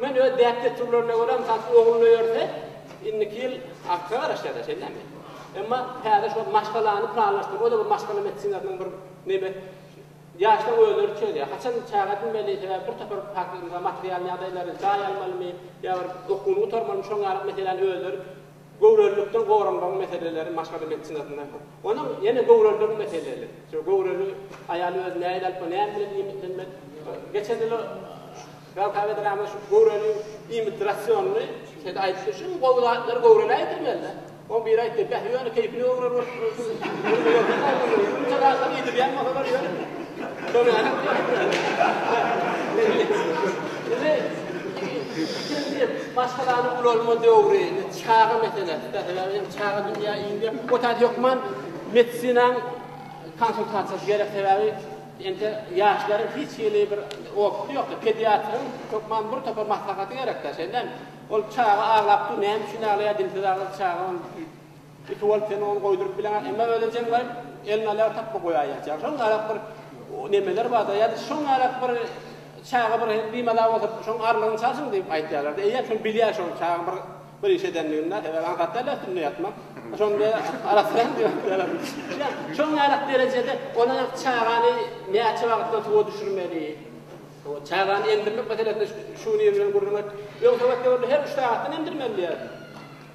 Men öz däp-dessurlaryna görä, mysal üçin, oglun öýerse, indiki ýyl artga garaşýar-da, şeýdämi? Emma täze şol maşgalany planlaşdyryp, o-da bir maşgala medisinasynyň bir neme, ýaşlaň özleri çözýär. Haçan çaga edinmeli, sebäbi bir topar faktor, mysal, material ýagdaýlary, jaý almalymy ýa bir okuwyny gutarmalymy, şoňa ýaly meseläni özleri Göwrelilikden goranmagyň meseleleri maşgala medisinasynda hem. Onuň ýene göwreliligiň meseleli. Şu göwreli aýal özi nähili alyp barýar, näme bilen iýmitlenmeli? Geçen ýyl Rawka Bedirama şu göwreli iýmit rasionyny şeýle aýdypdy, şu gowy zatlary göwrelä ýetirmeli-dä. Oň biri aýtdy, Bäh, ýöne keýpini göwreli bolup ýörmeli. Ýumşa zatlary iýdirýän bolsalar ýöne. Şonam ýok. Iki, ikinji diýip, maşgalany ulalma döwri, indi çaga meselesi-de, sebäbi indi çaga dünýä indi, o taýda hökman medisinanyň konsultasiýasy gerek, sebäbi indi ýaşlaryň hiç hili bir opusy ýok-da, pediatryň hökman bir topar maslahaty gerek-dä, şeýdämi? Ol çaga aglap dur, näme üçin aglaýar, dilsiz aglar çaga, ol Tüti bolup sen ony goýduryp bileňok, emma ölejeň baryp elnalaga tapba goýaý ýatýaň. Şoň ýalak bir nemeler barda, ýa-da şoň ýalak bir çaga bir bimaza bolsa, şoň arlygyny çalşyň diýip aýtýarlar-da. Eýýäm şony bilýär şol çaga bir bir iş edenligini-de, sebäbi aňsat däl-de üstünde ýatmak. Şonda arassalam diýip aýdýarlar. Ýa şoň ýalak derejede ony çagany näçe wagtdan suwa düşürmeli? Suwa çagany emdirmek meselesinde şu nireden gürrüň et. Öň sowet döwründe her üç sagatdan emdirmeli diýerdi.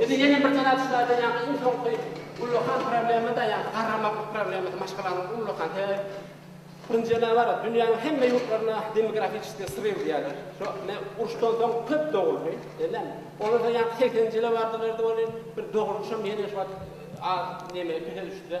Indi ýene bir tarap şulaýdan ýaňky iň soňky ullakan problema-da ýa garramaklyk problemasy maşgalanyň ullakan sebäbi Nji nabar dünýäniň hemme ýurtlarynda demografiçeskiý sryw diýýärler. Şo ne uruşdan soň köp doguldy. Bellemi? Olardan ýaňky segseninji ýyla bardylar-da welin bir doguluşam ýene şuwagt az neme üze düşdi-de.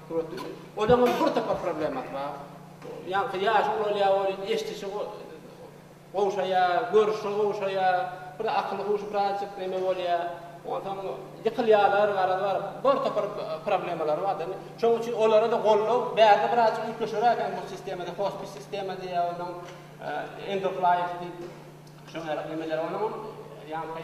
Suratly. Olaňam bir topar problemasy bar. Ýaňky ýaşy ulalýar welin eşdişi gowşaýar, görşi gowşaýar, bir akyl-huşy birazjyk näme bolýar. Onsoň ýykylýarlar, garaz bar, bir topar problemalary bar-da indi. Şonuň üçin olara-da goldaw bärde birazjyk üýtgeşigrak eken bu sistemada, hospis sistema diýýär onsoň end of life diýip, şoňa ýarak nemeler. Onuňam ýaňky.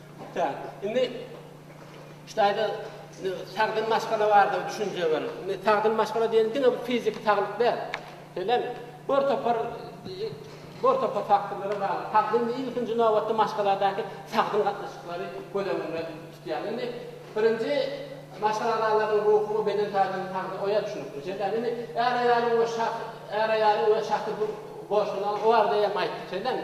Ýa-da, indi şu taýda sagdyn maşgala barada düşünje bar. Indi sagdyn maşgala diýen diňe bir fiziki saglyk däl. Şeýlemi? Bir topar bir topar faktorlara bagly. Sagdyn diýip ilkinji nobatda maşgaladaky sagdyn gatnaşyklary göz öňünde tutýar. Indi birinji maşgala agzalarynyň ruhy we beden taýdan sagdyn, oýa düşünikli. Şeýlemi? Indi är-aýalyň we şahs, är-aýalyň we şahsy bu goşuny o barada hem aýtdyk. Şeýlemi?